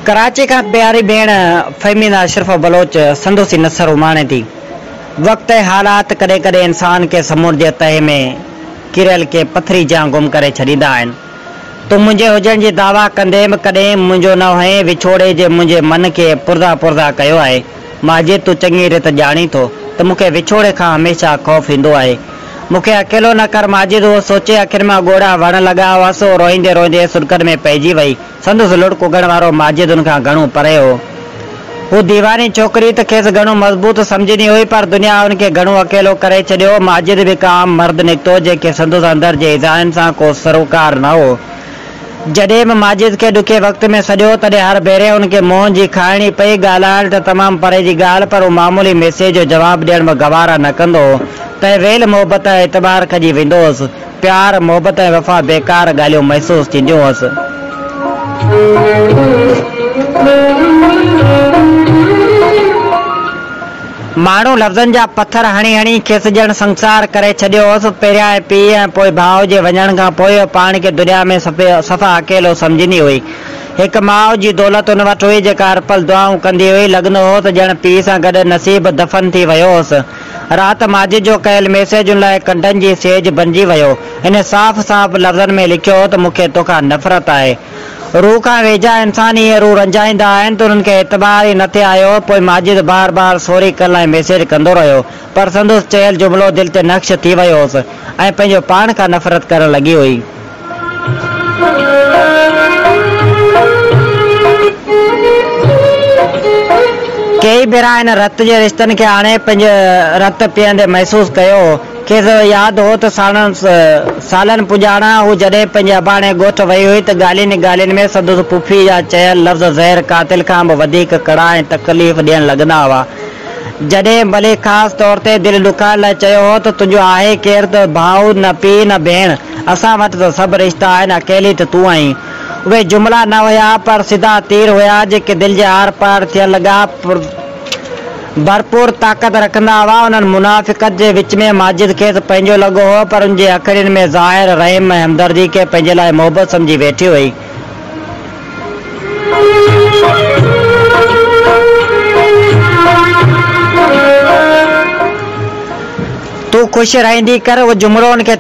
ڪراچي کان پياري ڀيڻ فهميده اشرفه بلوچ سندس ئي نثر اماڻي ٿي. وقت ۽ حالات ڪڏهن ڪڏهن انسان کي سمنڊ جي تهه ۾ ڪريل ڪنهن پٿري جيان گم ڪري ڇڏيندا آهن. تون منهنجي هجڻ جي دعويٰ ڪندي به ڪڏهن منهنجو نه هئين وڇوڙي جي منهنجي من کي پرزا پرزا ڪيو آهي. مهاجر تون چڱي ريت ڄاڻين ٿو ته مون کي وڇوڙي کان هميشه خوف ايندو آهي. مون کي اڪيلو نه ڪر ماجد اهو سوچي اکين مان ڳوڙها وهڻ لڳا هئا سو روئيندي روئيندي سڏڪن ۾ پئجي وئي. سندس لڙڪ اگهڻ وارو ماجد ان کان گهڻو پري هو. هو ديواني ڇوڪري ته کيس گهڻو مضبوط سمجهندي هئي پر دنيا هن کي گهڻو اڪيلو ڪري ڇڏيو هو. ماجد به هڪ عام مرد نڪتو جنهن کي سندس اندر جي ايذائن سان ڪو سروڪار نه هو. جڏهن به ماجد کي ڏکي وقت ۾ سڏيو تڏهن هر ڀيري ان کي منهن جي کائڻي پئي، ڳالهائڻ ته تمام پري جي ڳالهه پر هو معمولي ميسيج جو جواب ڏيڻ به گوارا نه ڪندو هو. تنهن ويل محبت ۽ اعتبار کڄي ويندو هوس. پيار، محبت ۽ وفا بيڪار ڳالهيون محسوس ٿينديون هوس. ماڻهو لفظن جا پٿر هڻي هڻي کيس ڄڻ سنگسار ڪري ڇڏيو هوس. پهريائين پيء ۽ پوء ڀاء جي وڃڻ کان پوء هوء پاڻ کي دنيا ۾ صفا اڪيلو سمجهندي هئي. هڪ ماء جي دولت هن وٽ هئي جيڪا هر پل دعائون ڪندي هئي. لڳندو هو ته ڄڻ پيء سان گڏ نصيب دفن ٿي ويو هوس. رات ماجد جو ڪيل ميسيجن لاء ڪنڊن جي سيج بنجي ويو. هن صاف صاف لفظن ۾ لکيو هو ته مون کي توکان نفرت آهي. روح کان ويجها انسان ائين روح رنجائيندا آهن ته انهن کي اعتبار ئي نه ٿي آيو. پوء ماجد بار بار سوري ڪل ۽ ميسيج ڪندو رهيو، پر سندس چيل جملو دل تي نقش ٿي ويو هوس ۽ پنهنجو پاڻ کان نفرت ڪرڻ لڳي هئي. ڪيئي ڀيرا هن رت جي رشتن کي آڻي پنهنجي رت پيئندي محسوس ڪيو هو. کيس ياد هو ته ساڻن سالن پڄاڻا هو جڏهن پنهنجي اباڻي ڳوٺ وئي هئي ته ڳالهين ئي ڳالهين ۾ سندس پڦي جا چيل لفظ زهر قاتل کان به وڌيڪ ڪڙا ۽ تڪليف ڏيڻ لڳندا هئا. جڏهن مليڪ خاص طور تي دل ڏکائڻ لاء چيو هو ته تنهنجو آهي ڪير ته ڀاء نه پيء نه ڀيڻ، اسان وٽ ته سڀ رشتا آهن اڪيلي ته تون آهين. اهي جملا نه هيا پر سڌا تير هيا جيڪي دل جي آر پار ٿيڻ لڳا. ڀرپور طاقت رکندا هئا. انهن منافقت جي وچ ۾ ماجد کيس پنهنجو لڳو هو، پر ان جي اکڙين ۾ ظاهر رحم ۽ همدردي کي پنهنجي لاء محبت سمجهي ويٺي هئي. تون خوش رهندي ڪر اهو جملو هن کي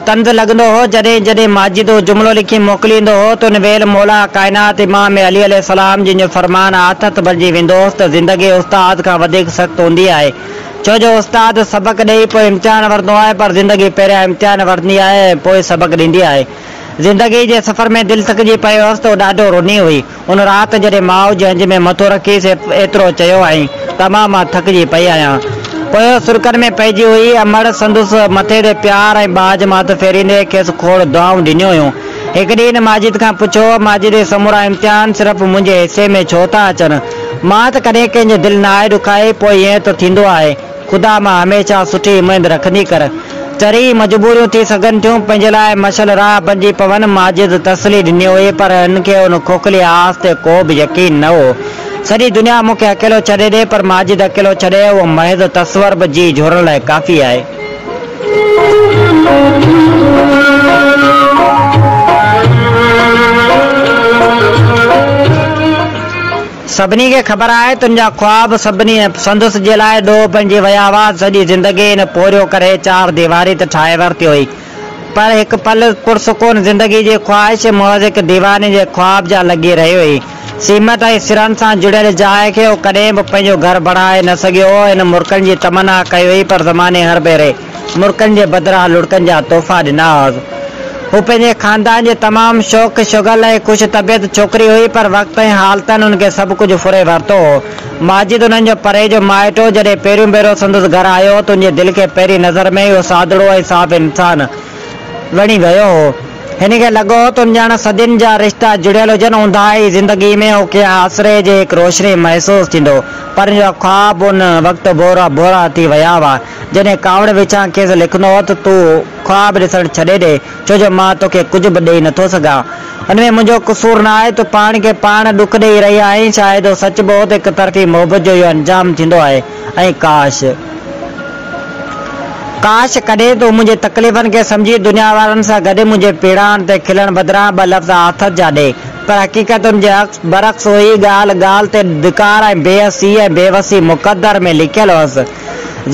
طنز لڳندو هو. جڏهن جڏهن ماجد اهو جملو لکي موڪليندو هو ته ان ويل مولا ڪائنات امام علي عليه السلام جن جو فرمان آٿت بڻجي ويندو هوس ته زندگي استاد کان وڌيڪ سخت هوندي آهي ڇو جو استاد سبق ڏئي پوء امتحان ورندو آهي پر زندگي پهريان امتحان ورندي آهي ۽ پوء سبق ڏيندي آهي زندگي جي سفر ۾ دل ٿڪجي پئي هوس ته هو ڏاڍو روني هئي. ان رات جڏهن ماء جهنج ۾ مٿو رکي سي ايترو چيو هئائين ته امان مان ٿڪجي پئي آهيان. پوء هوء سرڪن ۾ پئجي هئي. امڙ سندس مٿي تي پيار ۽ ٻاجهه ماٿ ڦيريندي کيس کوڙ دعائون ڏنيون هيون. هڪ ڏينهن هن ماجد کان پڇيو، ماجد هي سمورا امتحان صرف منهنجي حصي ۾ ڇو ٿا اچن؟ مان ته ڪڏهن ڪنهن جو دل ناهي ڏکائي، پوء ائين ته ٿيندو آهي. خدا مان هميشه سٺي اميد رکندي ڪر. چري ئي مجبوريون ٿي سگهن ٿيون، پنهنجي لاء مشعل راهه بنجي پون. ماجد تسلي ڏني هئي، پر هن کي ان کوکلي آس تي ڪو به يقين نه هو. سڄي دنيا مون کي اڪيلو ڇڏي ڏي، پر ماجد اڪيلو ڇڏي، اهو محض تصور به جيء جهورڻ لاء ڪافي آهي. سڀني کي خبر آهي تن جا خواب سڀني سندس جي لاء ڏوهه بڻجي ويا هئا. سڄي زندگي هن پورهيو ڪري چار ديواري ته ٺاهي ورتي هئي پر هڪ پل پرسڪون زندگي جي خواهش محض هڪ ديواني جي خواب جا لڳي رهي هئي. سيمنٽ ۽ سرن سان جڙيل جاء کي هو ڪڏهن به پنهنجو گهر بڻائي نه سگهيو هو. هن مرڪن جي تمنا ڪئي هئي پر زماني هر ڀيري. مرڪن جي بدران لڙڪن جا تحفا ڏنا هئس. هوء پنهنجي خاندان جي تمام شوخ شغل ۽ خوش طبيعت ڇوڪري هئي، پر وقت ۽ حالتن هن کي سڀ ڪجهه ڦري ورتو هو. ماجد انهن جو پري جو مائٽ هو، جڏهن پهريون ڀيرو سندس گهر آيو هو، تنهن جي دل کي پهرين نظر ۾ ئي اهو سادڙو ۽ صاف انسان وڻي ويو هو. هن کي لڳو هو تون ڄڻ صدين جا رشتا جڙيل هجن. اونداهي زندگيء ۾ هن کي آسري جي هڪ روشني محسوس ٿيندو هو، پر هن جا خواب ان وقت ڀورا ڀورا ٿي ويا هئا. جڏهن ڪاوڙ وچان کيس لکندو هو ته تون خواب ڏسڻ ڇڏي ڏي، ڇو جو مان توکي ڪجهه به ڏيئي نٿو سگهان. ان ۾ منهنجو قصور نه آهي، تون پاڻ کي پاڻ ڏک ڏيئي رهي آهين، شايد اهو سچ به هو ته هڪ طرفي محبت جو اهو انجام ٿيندو آهي ۽ ڪاش! ڪاش! ڪڏهن تون منهنجي تڪليفن کي سمجهي دنيا وارن سان گڏ منهنجي پيڙاڻ تي کلڻ بدران ٻه لفظ آٿت جا ڏي. پر حقيقت ان جي برعڪس هئي، ڳالهه ڳالهه تي ڌڪار ۽ بي حسي ۽ بي وسي مقدر ۾ لکيل هئس.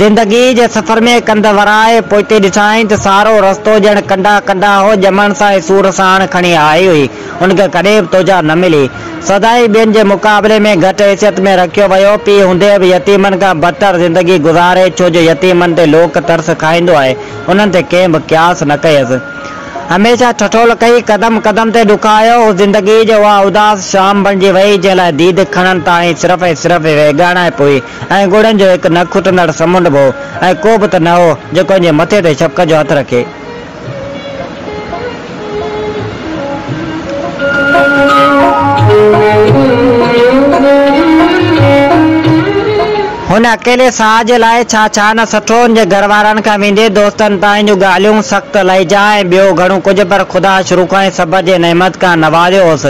زندگيء جي سفر ۾ ڪنڌ ورائي پوئتي ڏٺائين ته سارو رستو ڄڻ ڪنڊا ڪنڊا هو، ڄمڻ سان ئي سور ساڻ کڻي آئي هئي، ان کي ڪڏهن به توجهه نه ملي. سدائين ٻين جي مقابلي ۾ گهٽ حيثيت ۾ رکيو ويو، پيء هوندي به يتيمن کان بدتر زندگي گذاري، ڇو جو يتيمن تي لوڪ ترس کائيندو آهي، انهن تي ڪنهن به قياس نه ڪيس. هميشه ٺٺول ڪئي، قدم قدم تي ڏکايو، هو زندگيء جي اها اداس شام بڻجي ويئي، جنهن لاء ديد کڻڻ تاڻي صرف ۽ صرف ويڳاڻائپ هئي. ۽ ڳوڙهن جو هڪ نه کٽندڙ سمنڊ به هو ۽ ڪو به ته نه هو جيڪو ان جي مٿي تي شفقت جو هٿ رکي. هن اڪيلي ساهه جي لاء ڇا ڇا نه سٺو، هن جي گهر وارن کان ويندي دوستن تائين جون ڳالهيون، سخت لهجا ۽ ٻيو گهڻو ڪجهه پر خدا شروع کان ئي سڀ جي نعمت کان نوازيو هوس.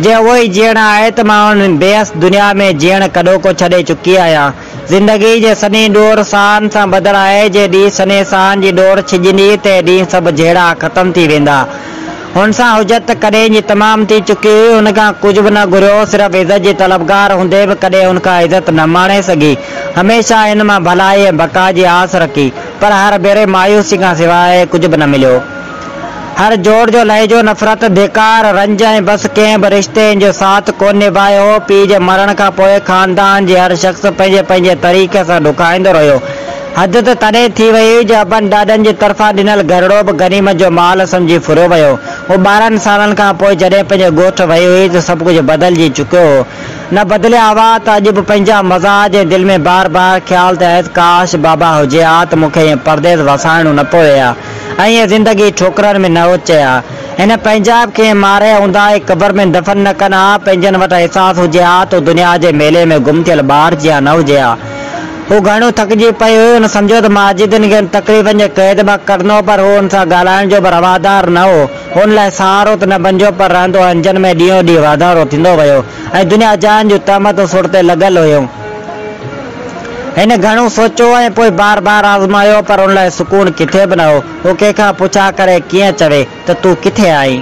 جي اهو ئي جيئڻ آهي ته مان هن بيحس دنيا ۾ جيئڻ ڪڏهوڪو ڇڏي چڪي آهيان. زندگيء جي سنهي ڏور ساهن سان ٻڌل آهي، جي ڏينهن سنهي ساهن جي ڏور ڇڄندي، تنهن ڏينهن سڀ جهيڙا ختم ٿي ويندا. هن سان حجت ته ڪڏهن جي تمام ٿي چڪي هئي، هن کان ڪجهه به نه گهريو، صرف عزت جي طلبگار هوندي به ڪڏهن هن کان عزت نه ماڻي سگهي، هميشه هن مان ڀلائي ۽ بقا جي آس رکي، پر هر ڀيري مايوسي کان سواء ڪجهه به نه مليو. هر جوڙ جو لهجو نفرت، ڌڪار، رنج ۽ بس ڪنهن به رشتي ان جو ساٿ ڪونه نڀايو هو. پيء جي مرڻ کان پوء خاندان جي هر شخص پنهنجي پنهنجي طريقي سان ڏکائيندو رهيو. حد ته تڏهن ٿي وئي هئي جو ابن ڏاڏن جي طرفان ڏنل گهرڙو به غنيمت جو مال سمجهي ڦريو ويو هو. ٻارهن سالن کان پوء جڏهن پنهنجي ڳوٺ وئي هئي ته سڀ ڪجهه بدلجي چڪيو هو. نه بدليا هئا ته اڄ به پنهنجا مزاج ۽ دل ۾ بار بار خيال ته ايس ڪاش بابا هجي ها ته مون کي ائين پرديس وسائڻو نه پوي ها. ائين زندگي ٺوڪرن ۾ نه اچي ها. هن پنهنجا به ڪنهن ماريا هوندا ۽ قبر ۾ دفن نه ڪن ها. پنهنجن وٽ احساس هجي ها ته هو دنيا جي ميلي ۾ گم ٿيل ٻار جيان نه هجي ها. هو گهڻو ٿڪجي پئي هئي. هن سمجهيو ته ماجدن کي هن تڪليفن جي قيد مان ڪڍندو پر هو هن سان ڳالهائڻ جو به روادار نه هو. هن لاء سهارو ته نه بنجو پر رهندو اهنجن ۾ ڏينهون ڏينهن واڌارو ٿيندو ويو ۽ دنيا جهان جون تهمتون سر تي لڳل هيون. هن گهڻو سوچيو ۽ پوء بار بار آزمايو پر ان لاء سڪون ڪٿي به نه هو. هو ڪنهن کان پڇا ڪري ڪيئن چوي ته تون ڪٿي آهين؟